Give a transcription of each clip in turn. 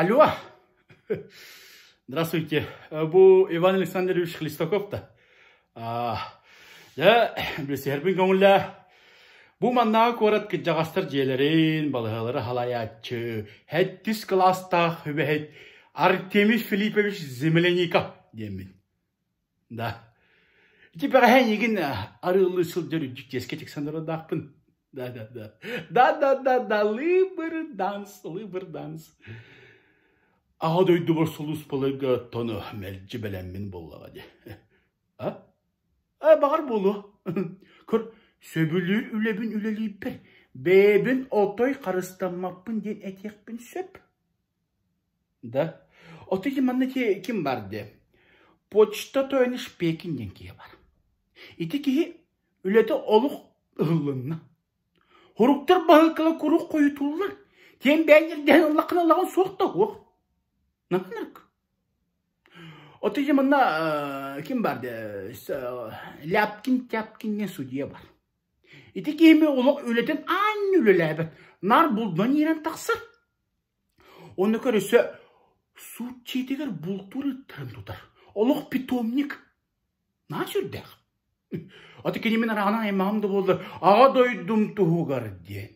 Алло, здравствуйте, бу Иван Александрович Хлестаков-то. Дьэ, билсиһэрбин көҥүллээ. Бу маннааҕы куорат кырдьаҕастар дьиэлэрин, балаһалары халайааччы, һэттис кылаастаах үбэһит Артемий Филиппович Земляников диэммин. Да, ити бэҕэһээ эйигин арыаллыы сылдьар дьиксиэскэ тиксэн олордоохпун. Да-да-да, да-да-да-да, лыыбыр данс, лыыбыр данс. Аҕа дойдубар сулууспаларга тону мэлдьи бэлэммин буоллаҕа дии. А? А, баҕар буолуо. Көр, сөбүлүүр үлэбин үлэлиирбэр бэйэбин отой харыстаммаппын диэн этиэхпин сөп. Да, отуйди манна ким бар диэ, почта тойон Испэкин диэн киһи бар. Ити киһи үлэтэ олох ыһыллынна. Суруктар баһыыкала куруук хойутууллар, киэҥ бэйэн ньиргэһэн ыллаххына ылаҕын суох да суох. Натынырк. Отуйди манна ким бар диэ, Ляпкин-Тяпкин диэн судья бар. Ити киһи олох үлэтин аан үлэлээбэт, наар булдунан иирэн тахсар. Уонна көрүсэ сутчиитигэр бултуур ыйыттарын тутар олох питомник наас үрдээх аты кини мин арааһынан аймаҕым да буоллар Аҕа дойдум туһугар диэн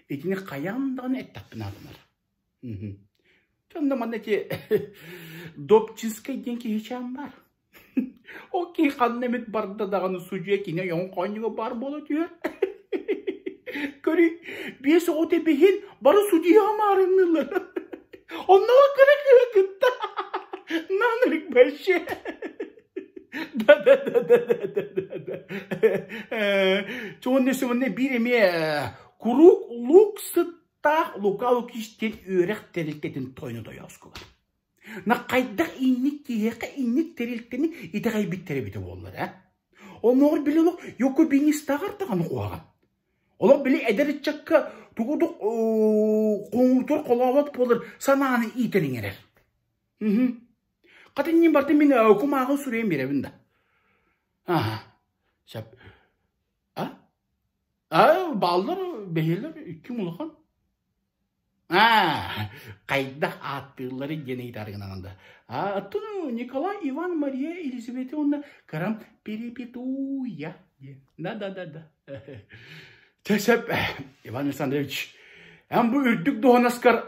итини хайаан даҕаны эттэхпинэ гынар дьон да манна ити Добчинскай диэн киһичээн баар Ол киһи ханна эмит барда даҕаны судьуйа кини ойоҕун хоонньуга баар буола түһэр. Көрү биэс оҕо тэбиһин бары судьуйа хамаарынныылар. Оннуга кыра кыра кытта наан ырык бэщэ. Чонна сыманна биир эмиэ куруук лук сыттаах лука лукиштин үөрэх тэрилтэтин тойну тойоускулар. хайдах инник киһиэхэ инник тэрилтэни итэҕэйбиттэрэ эбитэ буоллара оннооҕор били олох юкубинистааҕар даҕаны куһаҕан олох били эдэр ыччакка тугу да хоҥуутур холообот буолар санааны иитэн иҥэрэр хата иннин барта мин кумааҕы суруйан биэрэбин да сөп а а бааллар бэһиэлэр икки улахан Аа, хайдах ааттыылларын диэн ыйытар гынан да оттону Николай Иван Мария Елизавета уонна кырам перепетуя диэн. Да-да-да-да. Чэ сөп, Иван Александрович. Эн бу үрдүк дуонаскар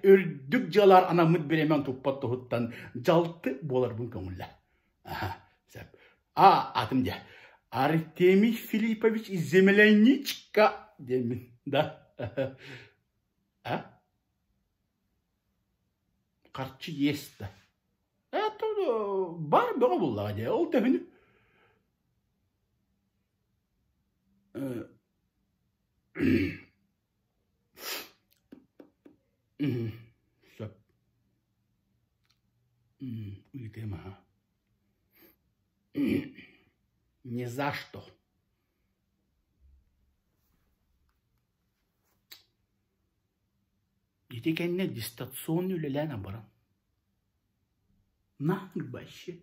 үрдүк дьыалар анаммыт бириэмэн туппат туһуттан дьалты буоларбын көҥүллэ. Аха, сөп. А атын дьэ Артемий Филиппович земляничка диэммин да а харчы иэс да баар бөҕө буоллаҕа дьэ ол да үһүнү Сөп. Ыйытыам аһа. Не за что. Ити кэннэ дистанционно үлэлээн абаран. На вообще.